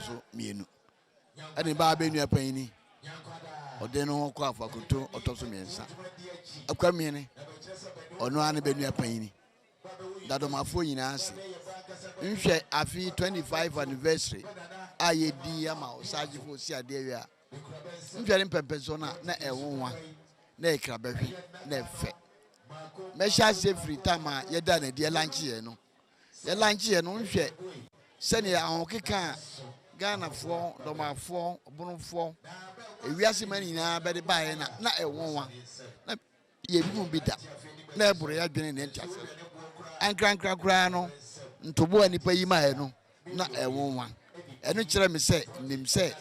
so mmienu ɛna ɛbaa abɛ nua panyin ɔde no ho kɔ afakoto ɔtɔ so mmiɛnsa akwa mmiɛne ɔno ara ne bɛ nua panyin dadomafoɔ nyinaa ase nhwɛ afi 25 anniversary a yɛdi ama ɔsaagyefo si adeɛ wie a nhwɛ ne mpɛmpɛsoɔ no a na ɛwonwa na ɛkra bɛhwe na ɛfɛ mɛhyɛ aseɛ firi tam a yɛda no adiɛ lankye yɛn no Yɛ lunch yɛ no nhwɛ sɛdeɛ ahokeka a Ghanafoɔ, Dɔmafoɔ, Bonofoɔ, ewiase man nyinaa bɛde baeɛ na na ɛwɔnwa na yɛnhunu bi da na ɛboro yɛadwene ne nteaseɛ so. Ankrankra koraa no, ntoboa a nnipa yi maeɛ no na ɛnwonwa. Ɛno kyerɛ me sɛ nim sɛ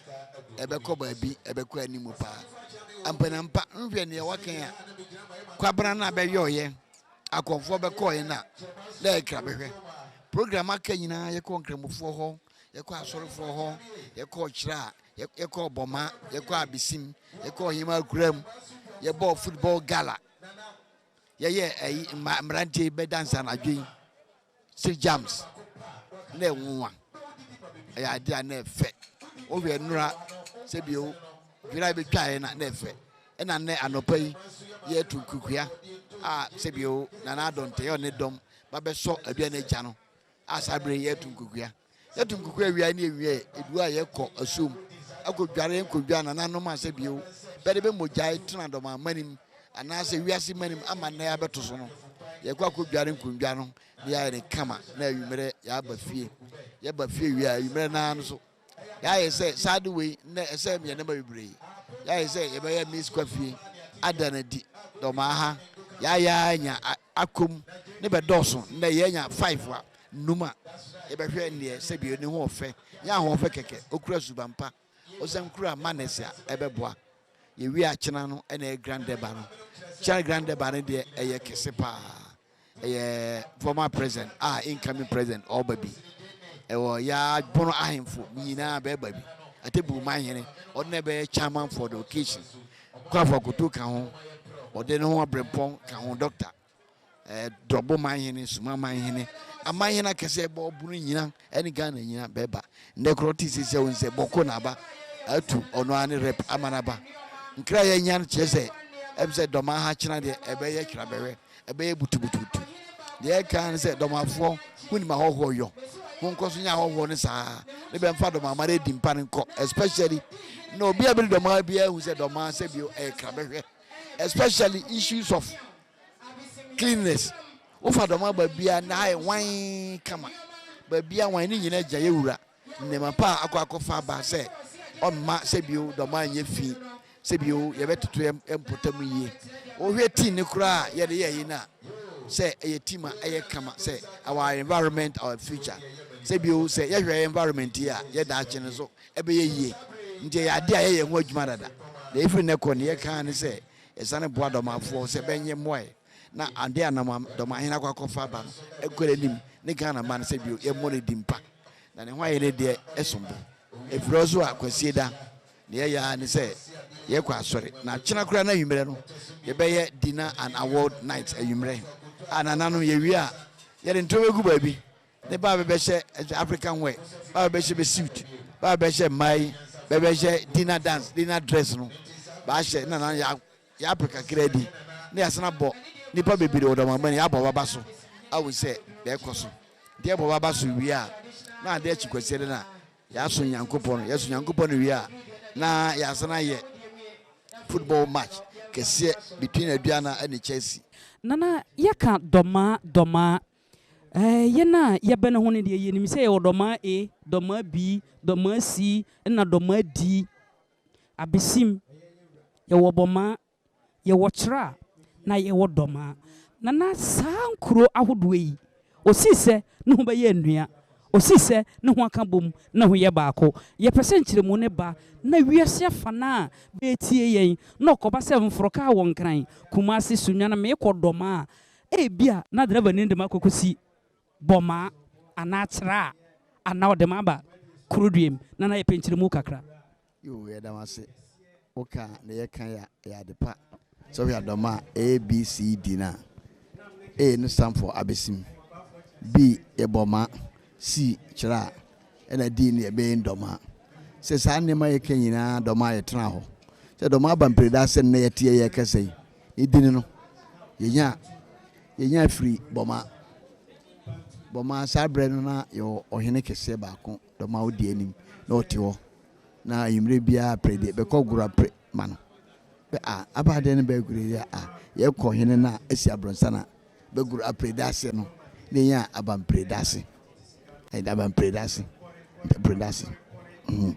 ɛbɛkɔ baabi, ɛbɛkɔ anim paa. Ampanampa, nhwɛ nea wɔaka a kwabena no a bɛyɔɔyɛ, akɔmfoɔ bɛkɔɔyɛ no a, na ɛyɛ krabɛhwɛ. Program aka nyinaa, yɛkɔɔ nkramofoɔ hɔ, yɛkɔɔ asɔrefoɔ hɔ, yɛkɔɔ kyerɛ a, yɛkɔɔ bɔma, yɛkɔɔ abesim, yɛkɔɔ hema akuram, yɛbɔɔ football gala, yɛyɛ ɛyi mma mmeranteɛ bɛdansa anadwo yi. Sɛ gyams na ɛnwonwa, ɛyɛ adeɛ a na ɛfɛ. Wohwɛ nnora sɛ bio dwira bɛtwaeɛ na na ɛfɛ. Ɛna nnɛ anɔpa yi yɛreto nkurukuya a sɛ bio Nana Adɔ Ntɛyɛ ɔne dɔm ba bɛsɔ aduane agya no a saa berɛ yi yɛreto nkurukuya. Yɛto nkuku awia ne awia edu a yɛkɔ asuom akodware nkodwa nananom ase bio bɛde bɛ mogyae tena dɔmammanim anaasɛ wiase mmanim ama nnɛ abɛto so no. Yɛkɔ akodware nkondwa no na yɛayɛ no kama na awimmerɛ yɛaba fie. Yɛba fie wie a awimmerɛ no ara no so yɛayɛ sɛ saa ade wei nnɛ ɛsɛ yɛn nneɛma bebree. Yɛayɛ sɛ yɛbɛyɛ Miss Kwafie, ada no adi, dɔmaa ha, yɛayɛ ara anya akɔ mu ne bɛdɔɔso nnɛ yɛanya five a nnum a, yɛbɛhwɛ ndeɛ sɛbio ne ho ɔfɛ, nyɛ ahoɔfɛ kɛkɛ, okura suban pa, ɔsan kura manners a ɛbɛboa. Yɛwie a kyena no na ɛyɛ Grand Durbar no. Kyena Grand Durbar no deɛ ɛyɛ kɛse paa. Ɛyɛ former president a incoming president ɔɔba bi. Ɛwɔ yaa bono ahemfo nyinaa bɛɛba bi. Atebu man hene ɔde na ɛbɛyɛ chairman for the occasion. Kwaafo Akoto ka ho, ɔde ne ho abrɛmpɔn ka ho, Doctor. Ɛɛ Drɔbo Manhene, Suma Manhene, amanhene akɛse a ɛbɔ ɔbono nyina ne Ghana nyina bɛba. Nnɛ korɔ ɔte sɛ sɛ wohu sɛ bɔko na aba atu ɔno ara ne rep ama no aba. Nkra a yɛanya no kyerɛ sɛ ɛm sɛ Dɔmaa ha kyena deɛ ɛbɛyɛ twerabɛhwɛ, ɛbɛyɛ butubutubutu. Deɛ ɛka ara ne sɛ Dɔmafoɔ monim ahɔhoɔ yɔ, monkɔ so nyɛ ahɔhoɔ no saa ara ne bɛmfa Dɔmaa mara adi mpa no nkɔ especially na obi a bɛdi Dɔmaa biara hu sɛ Dɔmaa sɛ bio ɛyɛ krabɛhwɛ. especially issues of cleanliness wofa dɔm aba bia na ayɛ wan kama baabi a wan ne nyina gya yɛ wura nnema pa a akɔ akɔfa aba sɛ ɔmma sɛ bio dɔm anyɛ fi sɛ bio yɛbɛtoto mpɔtam yie wohwɛ tii ne koraa a yɛde yɛyi no a sɛ ɛyɛ tim a ɛyɛ kama sɛ our environment our future sɛ bio sɛ yɛhwɛ environment yi a yɛda akye no so Ɛbɛyɛ yie. Nti ɛyɛ adeɛ a yɛyɛ ho adwuma dada. Na ɛfiri nnɛ kɔ deɛ yɛka ara ne sɛ yɛsane boa Dɔmafoɔ sɛ bɛnyɛ mmoaɛ na adeɛ a Nama Dɔmahene akɔ akɔfa aba no nkɔ n'anim ne Ghana man sɛ bio yɛmmɔ no din pa na ne ho ayɛ ne deɛ ɛsom bo. Ɛfiri hɔ so a Kwasieda deɛ yɛyɛ ara ne sɛ yɛkɔ asɔre na akyena koraa n'anwummerɛ no yɛbɛyɛ dinner and award night anwummerɛ a nananom yɛwie a yɛde ntoɔ bɛgu baabi Ne ba bɛbɛhyɛ ɛsɛ African wear ba bɛbɛhyɛ bɛ suit ba bɛbɛhyɛ mmaa yi bɛbɛhyɛ dinner dance dinner dress no baahyɛ na na yɛ yɛapɛ kakra bi na yɛasan abɔ nipa bebree wɔ dɔmamma no yɛabɔ baba so ahu sɛ deɛ ɛkɔ so deɛ ɛbɔ baba so wie a na adeɛ akyi kwasiɛ de na yɛaso nyankopɔn yɛaso nyankopɔn no wie a na yɛasan ayɛ football match kɛseɛ between aduana ɛne chelsea. Nana yɛka dɔmaa dɔmaa Hɛn a yɛbɛn ho no deɛ, yenim sɛ yɛwɔ dɔmaa A, dɔmaa B, dɔmaa C, nna dɔmaa D. Abesim, yɛwɔ bɔmaa, yɛwɔ kyera, na yɛwɔ dɔmaa. Na na saa nkuro ahodoɔ yi, ɔsii sɛ ne ho bɛyɛ nnua, ɔsii sɛ ne ho aka bom, ne ho yɛ baako. Yɛpɛ sɛ nkyerɛmu no ba na wiase afa no ara bɛɛtie yɛn, na ɔkɔba sɛ mforokaa wɔ Nkran, Kumase, Sunyani, meekɔ dɔmaa, Ebia na drɛva no de me akɔkɔsi Boma anaa Accra anaa ɔde me aba Kuruduem na na ayɛ pɛnkyeremu kakra. Yoo yɛda wo ase wo ka a na yɛ kan yɛ yɛ ade pa sɛ wohwɛ adɔm a ABCD no a A no stand for abesim B yɛ bɔma C kyerɛ a ɛna D no yɛ bɛn dɔma sɛ saa nneɛma yɛ ka nyinaa dɔma yɛ tena hɔ sɛ dɔma aba mpreda sɛ nnɛ yɛteɛ yɛ kɛsɛ yi Ne din no, yɛnyaa yɛnyaa firii Bɔma. Bɔma, saa berɛ no na yɛwɔ ɔhene kɛseɛ baako, dɔm a ɔdi anim, na ɔte hɔ. Na anwummerɛ biara pere deɛ, bɛkɔ gora pere ma no. Bɛ a, aba adeɛ no bɛɛ gora yɛ a, yɛkɔ hene no a, asi abrɔnsa no a, bɛgoro apere da ase no, na yɛnya aba mpire da ase. Ɛda aba mpire da ase, mpire da ase. Mm.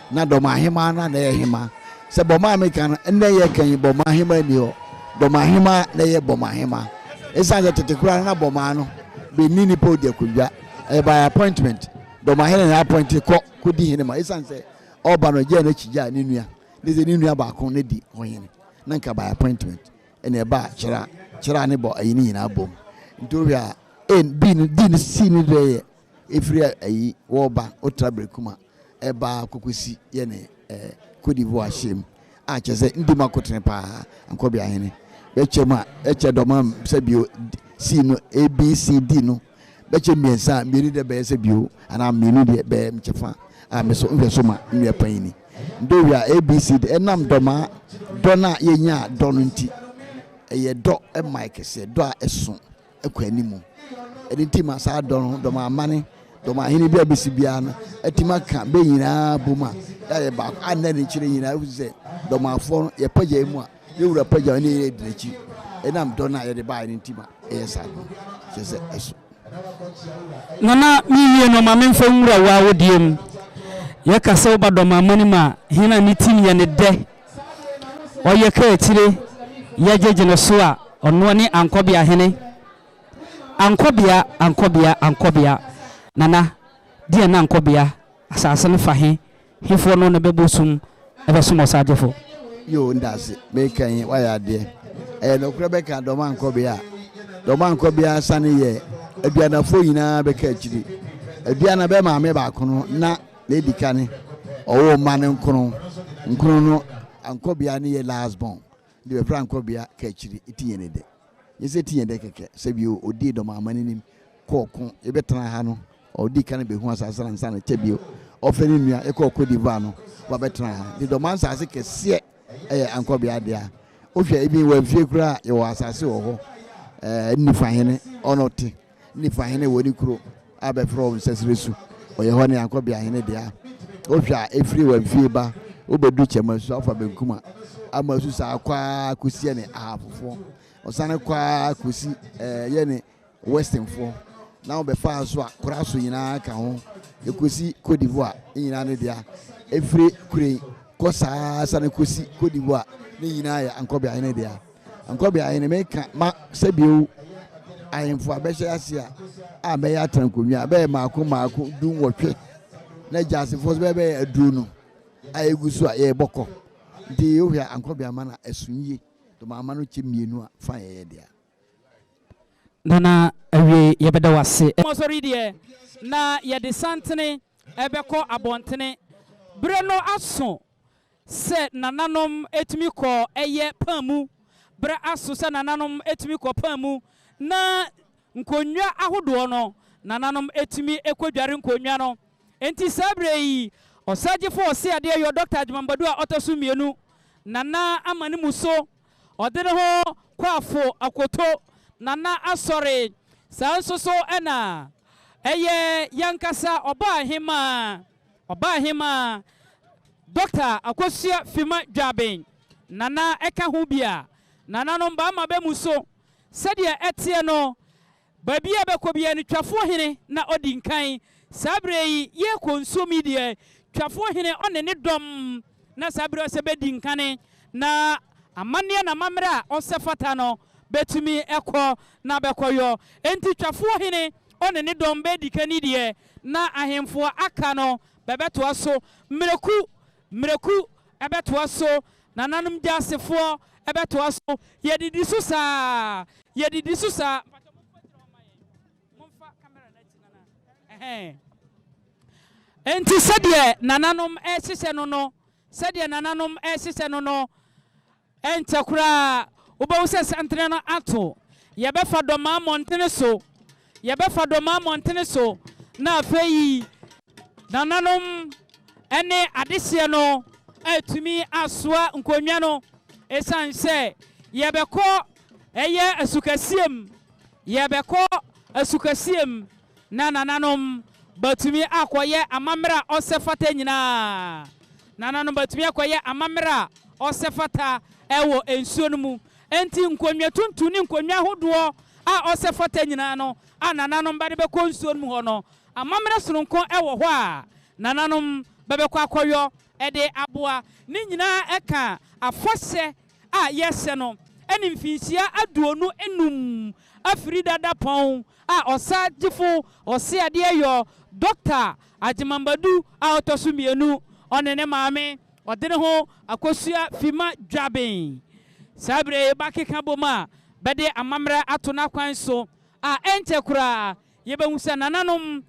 Na Burma Aheman no a na ɛyɛ Heman. Sɛ Burma a meka no, nnɛ yɛka yi Burma Aheman nni hɔ. Burma Heman na ɛyɛ Burma Heman. Esiane sɛ tete koraa no na Burma no benni nnipa a odi akondwa. Ɛyɛ by appointment. Burma hene na appointe kɔ kodi hene ma esiane sɛ ɔba no ɔgyaa n'akyi gyaa ne nua. Ne sɛ ne nua baako na di ho hene. Na nka by appointment na ɛbaa Kyera, Kyera ne Bɔ ayi no nyinaa bom. Nti wohwɛ a A, B no, D no, C no deɛ yɛ ɛfiri ayi wɔba wotra Berekuma. ɛbaa kokosi yɛne eh, Cote d'Ivoire hyɛm a kyɛ sɛ ndi mu akotene paa ankɔbea hene bɛkyɛ mu a ɛkyɛ dɔma sɛ bio si no abcd no bɛkyɛ mmiɛnsa a mmienu deɛ bɛyɛ sɛ bio anaa mmienu deɛ bɛyɛ mkyɛfa a me so nhwɛ so ma nnua panyini ndowi a abcd ɛnam dɔma dɔ no a yɛnya dɔ no nti ɛyɛ dɔ ɛma ɛkɛseɛ dɔ a ɛso kɔ anim. Ɛno nti ma saa dɔm no, dɔm amane, dɔm ahene bi a bɛsi biara no atumi aka bɛ nyinaa bom a yɛayɛ baako a nnɛ ne nkyerɛ nyinaa wosi sɛ dɔm afoɔ no yɛpagya yi mu a yɛwura pagya ne yɛ di n'akyi ɛnam dɔn a yɛde baeɛ no nti ma ɛyɛ saa no kyerɛ sɛ ɛso. Nana mewie no ma memfa nwura wo awodeɛ mu. Yɛka sɛ woba dɔm amane mu a, hene a ne tirim yɛ ne dɛ ɔyɛ kaakyire yɛ gyegye no so a ɔnoa ne Ankɔbea hene Ankɔbea Ankɔbea Ankɔbea Nana deɛ na Ankɔbea asaase no fa he hefoɔ no na bɛbɔ sum bɛsom ɔsaagyefo. Yoo ndase meka yi wayɛ adeɛ ɛyɛ nɔkorɛ bɛka dɔm Ankɔbea a dɔm Ankɔbea sane yɛ Aduanafo nyinaa bɛka akyiri Aduana bɛ maame baako no na Nea edi kan, ɔwoo mma no nkron. Nkron no, ankɔbea no yɛ last born. Nti bɛfrɛ ankɔbea Kaakyire, Etinyɛnedɛ. Nyɛ sɛ Etinyɛdɛ kɛkɛ. Sɛ bio, odii Dɔmamma no anim kɔɔ ɔko. Yɛbɛtena ha no, ɔdii kan behuu asase no ansa na kyɛ bio, ɔfrɛɛ ne nua, yɛkɔɔ Côte d'Ivoire no, ɔba bɛtenaa ha. Nti Dɔmaa nsase kɛseɛ yɛ ankɔbea dea. Wohwɛ, even wɔ afie koraa a, yɛwɔ asase wɔ hɔ. Ɛɛ, Nnifa hene, ɔno te. Nifa hene wɔ ne kuro a bɛfrɛ hɔ Nsɛsrɛ Su. Ɔyɛ hɔ ne Yankɔbea hene dea. Wohwɛ a, ɛfiri Wamfie ba wobɛduru Kyɛmasu afa benkum a, ama su saa kɔ ara kɔsi yɛne Ahafofoɔ. Ɔsane kɔ ara kɔsi eh, yɛne Westernfoɔ. Na wobɛfaa so a, kora so nyinaa ka ho. Ɛkɔsi Cote d'Ivoire, ne nyinaa ne dea. Ɛfiri Kurei kɔ saa sane kɔsi Cote d'Ivoire, ne nyinaa yɛ Ankɔbea hene dea. Nkɔ bia hene me ka ma sɛ bio ahemfo a bɛhyɛ ase a a bɛyɛ atankonwa a bɛyɛ maako maako du nwɔtwe na gyaasefo so bɛbɛyɛ aduru no a egu so a yɛbɔ kɔ nti wohwɛ a ankɔ bia ma na ɛso yie to ma ama no kyɛ mmienu a fa yɛyɛ deɛ Nana awie yɛbɛda wo ase. Mosɔre deɛ na yɛde santene bɛkɔ abɔntene. Berɛ no aso Sɛ nananom tumi kɔ ɛyɛ paa mu, berɛ aso sɛ nananom tumi kɔ paa mu, na nkonnwa ahodoɔ no, nananom tumi kɔdware nkonnwa no. Enti saa berɛ yi, Ɔsɛagyefoɔ Ɔseadeɛ yɔ Dɔkta Adjumambadu a ɔtɔ so mmienu, Nana ama ne mu so, ɔde ne ho kɔ afo akoto Nana asɔre. Saa nso so na ɛyɛ yɛn ankasa Ɔbaahemaa. Ɔbaahemaa Dɔkta Akosua Fima Dwaben, Nana ɛka ho bi a, Nananom bɛama bɛ mu so. Sɛdeɛ ɛteɛ no, baabi a bɛkɔ biara no, Twafoɔ Hene na ɔdi nkan. Saa berɛ yi, yɛrekɔ nsuom yi deɛ, Twafoɔ Hene ɔne ne dɔm na saa berɛ yi ɔsɛ bɛdi nkane, na amanneɛ na amammerɛ a ɔsɛ fata no, bɛtumi kɔ na bɛkɔyɔ. Enti Twafoɔ Hene ɔne ne dɔm bɛredi kani deɛ, Na ahemfo a aka no bɛbɛtoa so mmereku mmereku, ɛbɛtoa so, nananom gya asefoɔ, ɛbɛtoa so. Yɛdidi so saa, yɛdidi so saa. Mpakyɛ momfa gyina hɔ ma yɛn, momfa camera no akyi nana, ɛhɛn. Enti sɛdeɛ nananom ɛrehyehyɛ no no, sɛdeɛ nananom ɛrehyehyɛ no no, Ɛnkyɛ koraa wobɛhu sɛ santene no ato. Yɛbɛfa Dɔmaa mmɔntene so, yɛbɛfa Dɔmaa mmɔntene so, na afei nananom ne adehyeɛ no atumi asoa nkonnwa no. Ɛsiane sɛ yɛbɛkɔ ɛyɛ asukɛseɛ mu, yɛbɛkɔ asukɛseɛ mu. na nananom bɛatumi akɔyɛ amammerɛ a ɔsɛ fata nyinaa. Nananom bɛatumi akɔyɛ amammerɛ a ɔsɛ fata wɔ nsuo no mu. Enti nkonnwa tuntum ne nkonnwa ahodoɔ a ɔsɛ fata nyinaa no a nananom bɛde bɛkɔ nsuo no mu hɔ no, amammerɛ sononko wɔ hɔ a nananom bɛbɛkɔ akɔyɔ de aboa. Ne nyinaa ka afahyɛ a yɛhyɛ no ne mfinhyia aduonu nnum afiri dada pɔn a ɔsa gyefo Ɔse Adeɛyɔ, Dɔkta Agyeman Badu a ɔtɔ so mmienu, ɔne ne maame, ɔde ne ho akosua Fima Dwaben. Saa bere yi bakeka bom a bɛde amammerɛ ato n'akwan so a ɛnkyɛ koraa Yɛbɛhu sɛ nananom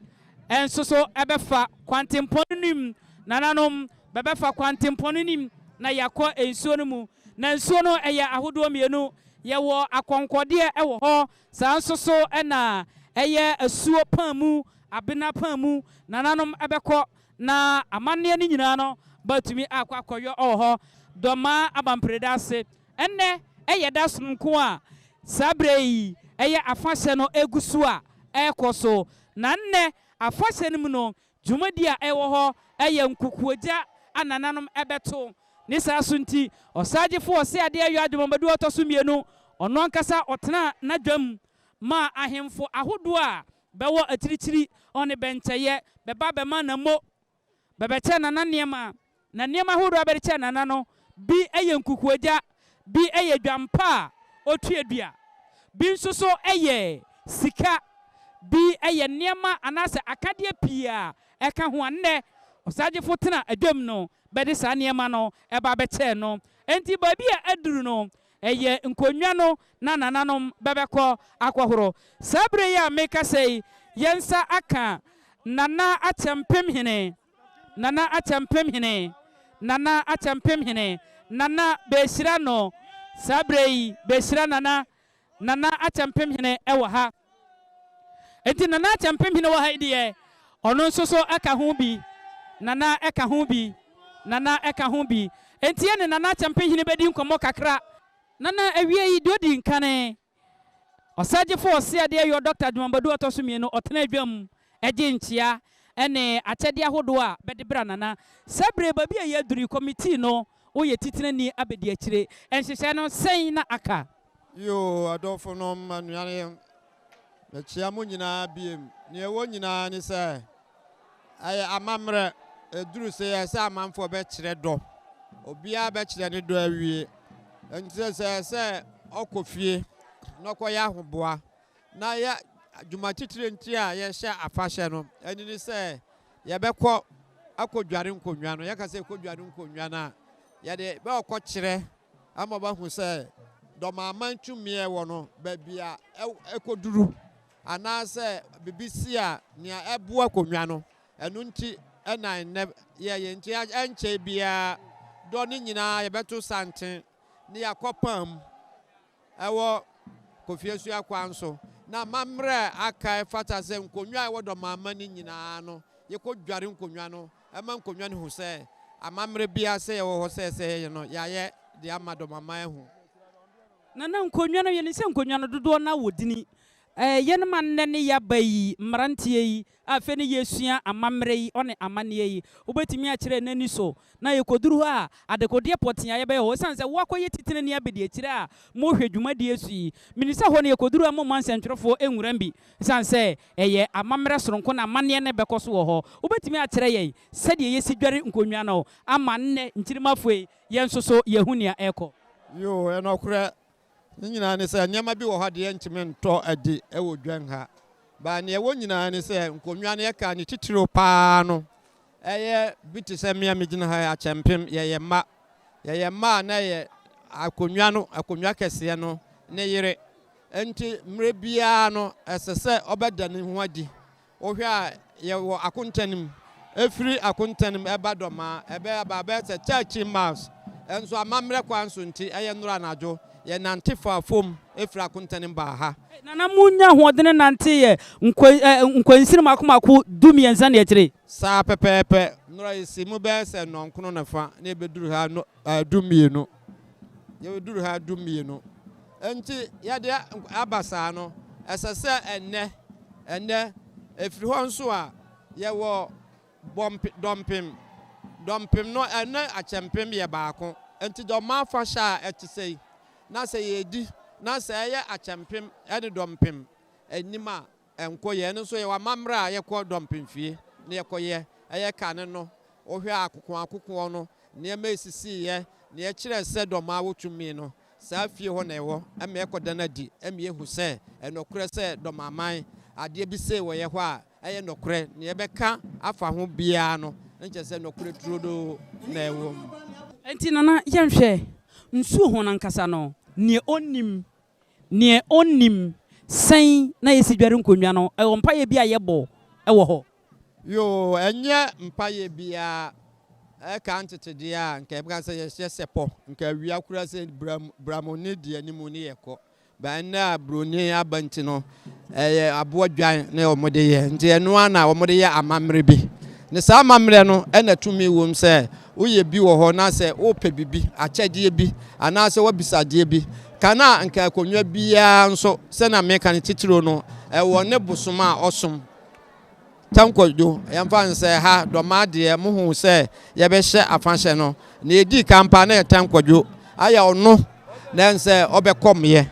nsoso bɛfa kwantempɔn no mu. Nananom bɛbɛfa kwantempɔn no mu na yɛakɔ nsuo no mu. Na nsuo no yɛ ahodoɔ mmienu. Yɛwɔ akɔnkɔdeɛ wɔ hɔ, saa nso so na ɛyɛ asuo paa mu, abena paa mu. Nananom bɛkɔ na amanneɛ no nyinaa no bɛatumi akɔ akɔyɔ wɔ hɔ. Dɔmaa Abampreda ase Ɛnnɛ, ɛyɛ da sononko a saa berɛ yi ɛyɛ afahyɛ no gu so a ɛrekɔ so. Na nnɛ afahyɛ no mu no, dwumadie a ɛwɔ hɔ yɛ nkukuogya a nananom bɛto. Ne saa so nti, Ɔsagyefo Ɔseadeɛ Ayo Agyemamadu a ɔtɔ so mmienu, ɔno ankasa ɔtenaa n'adwam maa ahemfo ahodoɔ a bɛwɔ akyirikyiri ne bɛnkyɛeɛ bɛba bɛma nammo bɛbɛkyɛ Nana nneɛma. Na nneɛma ahorow a bɛde kyɛ Nana no bi yɛ nkukuogya, bi yɛ dwampa a otuadua, bi nso so yɛ sika, bi yɛ nneɛma anaasɛ akadeɛ pii a ɛka ho a nnɛ ɔsagyefo tena adwam no bɛde saa nneɛma no ba bɛkyɛɛ no. Enti baabi a aduru no, Ɛyɛ nkonnwa no na nananom bɛbɛkɔ akɔhoro. Saa bere yi a mekasa yi, yɛn nsa aka Nana Akyɛmpemhene, Nana Akyɛmpemhene, Nana Akyɛmpemhene, Nana, behyira no, saa bere yi, behyira Nana, Nana Akyɛmpemhene wɔ ha. Enti Nana Akyɛmpemhene wɔ ha yi deɛ, ɔno nso so ka ho bi. Nana ka ho bi. Nana ka ho bi. Enti yɛne Nana Akyɛmpemhene bɛdi nkɔmmɔ kakra. Nana, awiei, deɛ ɔdi nkan, Ɔsɛgyefo Ɔseadeɛ Yor Dɔkta Adwumamadu Ɔtɔ So Mmienu, ɔtenaa dwam gyee nkyea ne akyɛdeɛ ahodoɔ a bɛde bra Nana. Saa bere yi, baabi a yɛaduru yi, Kɔmitii no Woyɛ titenani abadiakyire nhyehyɛɛ no sɛn na aka? Yoo adɔfonom anuanom mekyea mo nyinaa biem nea ɛwɔ nyinaa ne sɛ ɛyɛ amammerɛ ɛduru sɛ ɛyɛ sɛ amanfoɔ bɛkyerɛ dɔ obiara bɛkyerɛ ne dɔ awie ɛnti sɛ ɛyɛ sɛ ɔkɔ fie na ɔkɔyɛ ahoboa na yɛ dwuma titire nti a yɛhyɛ afahyɛ no, ɛno ne sɛ yɛbɛkɔ akɔdware nkonnwa no. Yɛka sɛ yɛkɔdware nkonnwa no a, yɛde bɛkɔkyerɛ ama wɔahu sɛ Dɔmaman tumi a ɛwɔ no, baabi a ɛkɔduru, anaasɛ biribi si a, nea ɛboa akonnwa no. Ɛno nti na nnɛ yɛyɛ. Nti ɛnkyɛe biara, dɔ no nyinaa yɛbɛto santen na yɛakɔpam ɛwɔ Kofiasua kwan so, na m'amerɛ aka ɛfata sɛ nkonnwa a ɛwɔ Dɔmamma no nyinaa no yɛkɔ dware nkonnwa no ɛma nkonnwa no hu sɛ amamerɛ biara sɛ yɛwɔ hɔ sɛ ɛsɛ yɛyɛ no yɛayɛ de ama Dɔmamma ahu. Na na nkonnwa no yɛnim sɛ nkonnwa no dodoɔ no awɔ dini, ɛɛ yɛn ma nnɛ ne yɛaba yi mmeranteɛ yi Afei na yɛresua amammerɛ yi ɔne amanneɛ yi. Wobɛtumi akyerɛ no ani so. Na yɛkɔduru hɔ a, adekodeɛ pɔtee a yɛbɛyɛ hɔ, ɛsiane sɛ woakɔyɛ titenani abadiakyire a mohwɛ dwumadie so yi, menim sɛ hɔ no yɛkɔduru a momma nsɛntwerɛfoɔ nwuram bi, ɛsiane sɛ ɛyɛ amammerɛ sononko na amanneɛ no rebɛkɔ so wɔ hɔ. Wobɛtumi akyerɛ yɛn sɛdeɛ yɛsi dware nkonnwa no ama nnɛ nkyirimafo yi, yɛn nso so yɛahu nea ɛrekɔ? Yoo, ɛnokorɛ. Ne nyinaa ne sɛ, nneɛma bi wɔ hɔ a deɛ yɛntumi ntɔ adi wɔ dwan ha. But nea ɛwɔ nyinaa ne sɛ, nkonnwa no, yɛka ne titiriw pa ara no, ɛyɛ bi te sɛ me a megyina ha yi, akyɛmpem. Yɛyɛ mma. Yɛyɛ mma a na ɛyɛ akonnwa no, akonnwa kɛseɛ no, ne yere. Enti mmerɛ biara no, ɛsɛ sɛ ɔbɛda ne ho adi. Wohwɛ a, yɛwɔ akontanim. Ɛfiri akontanim ɛba dɔma, ɛbɛyɛ baa bɛyɛ sɛ thirteen miles. Ɛnso amammerɛ kwan so nti, ɛyɛ nnora anadwo, yɛnante faa fam firi akontanim baa ha. Nana, monyaa ahoɔdene nanteeɛ nkwansin mmaako mmaako du-mmiɛnsa ne akyire? Saa pɛpɛɛpɛ. Nnora yɛsii mu bɛyɛ sɛ nnɔnkron ne fa na yɛbɛduru ha du-mmienu. Yɛbɛduru ha du-mmienu. Enti yɛde aba saa no, ɛsɛ sɛ ɛnnɛ, ɛnnɛ, ɛfiri hɔ nso a, yɛwɔ bɔmpe, dɔmpem. Dɔmpem no, ɛne akyɛmpem yɛ baako. Enti dɔm afahyɛ a ɛte sɛ yi, na sɛ yɛredi, na sɛ ɛyɛ akyɛmpem ne dɔmpem anim a, Ɛnkɔ yɛ, ɛno nso yɛwɔ amammerɛ a yɛkɔ dɔmpem fie na yɛkɔyɛ. Ɛyɛ kane no, wohwɛ a akokoɔ akokoɔ no, nneɛma a ɛsisiiɛ, deɛ ɛkyerɛɛ sɛ dɔm a wɔtumii no, saa fie hɔ na ɛwɔ, ɛma yɛkɔda no adi, ɛma yɛhu sɛ ɛyɛ nɔkorɛ sɛ dɔmaman, adeɛ bi sei wɔ yɛ hɔ a ɛyɛ nɔkorɛ, deɛ yɛbɛka afa ho biara no, na kyerɛ sɛ nɔkorɛ turodoo na ɛwɔ mu. Enti Nana, yɛnhwɛ nsuo ho no ankasa no, deɛ ɔnnim Neɛ ɔnnim sɛn na yɛsi dware nkonnwa no, ɛwɔ mpaeɛ bi a yɛbɔ wɔ hɔ. Yoo, ɛnyɛ mpaeɛ biara ɛka ntetedeɛ a nka yɛbɛka sɛ yɛhyɛ sɛpɔ, nka awia koraa sɛ bram bram ɔnni deɛ anim ne yɛkɔ, but ɛnnɛ a broni aba nti no Ɛyɛ aboa dwan na wɔde yɛ, nti ɛno ara na wɔde yɛ amammerɛ bi. Na saa amammerɛ no na tumi wom sɛ woyɛ bi wɔ hɔ na sɛ wopɛ biribi, akyɛdeɛ bi anaasɛ woabisa adeɛ bi. Ka no a anka akonnwa biara nso, sɛnea meka no titiriw no, ɛwɔ ne bosom a ɔsom. Tankwadwo, yɛmfa no sɛ ha Dɔmaa deɛ mohuu sɛ yɛbɛhyɛ afahyɛ no, deɛ ɛdii kan paa na yɛ Tankwadwo ayɛ ɔno na ɛne sɛ ɔbɛkɔmeɛ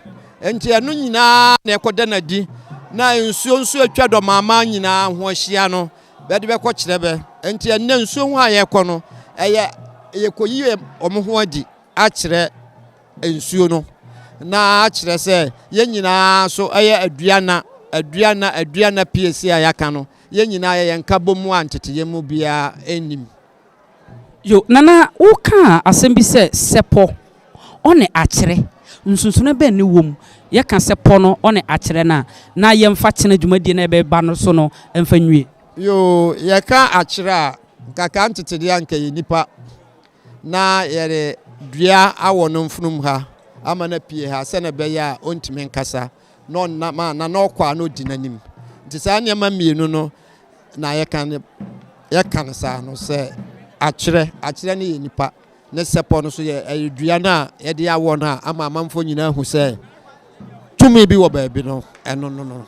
nti ɛno nyinaa na ɛkɔda no adi na nsuo nso atwa Dɔmaamaa nyinaa ho ahyia no bɛde bɛkɔ kyerɛ bɛ nti ɛnnɛ nsuo ho a yɛkɔ no ɛyɛ yɛkɔyi wɔn ho adi akyerɛ nsuo no, na kyerɛ sɛ yɛn nyinaa nso yɛ aduana, aduana, aduana piesie a yɛaka no, yɛn nyinaa yɛyɛ nkabɔmu a nteteeɛ mu biara nnim. Yo, Nana, wokaa asɛm bi sɛ sɛpɔ ɔne akyerɛ, nsonsonoɛ bɛn ne wom? Yɛka sɛpɔ no ɔne akyerɛ no a, na yɛmfa kyena dwumadie no a yɛbɛba no so no mfa nwie. Yo, Yɛka akyerɛ a, nka ka nteteeɛ a nka yɛn nnipa na yɛde dua awɔ no mfunumu ha ama no apue ha sɛnea ɛbɛyɛ a ɔntumi nkasa na ɔnam a na na ɔkɔ a na ɔdi n'anim nti saa nneɛma mmienu no na yɛka no yɛka no saa no sɛ akyerɛ akyerɛ no yɛ nipa ne sɛpɔ no so yɛ ɛyɛ dua no a yɛde awɔ no a ama amanfoɔ nyinaa hu sɛ tumi bi wɔ baabi no ɛno no no.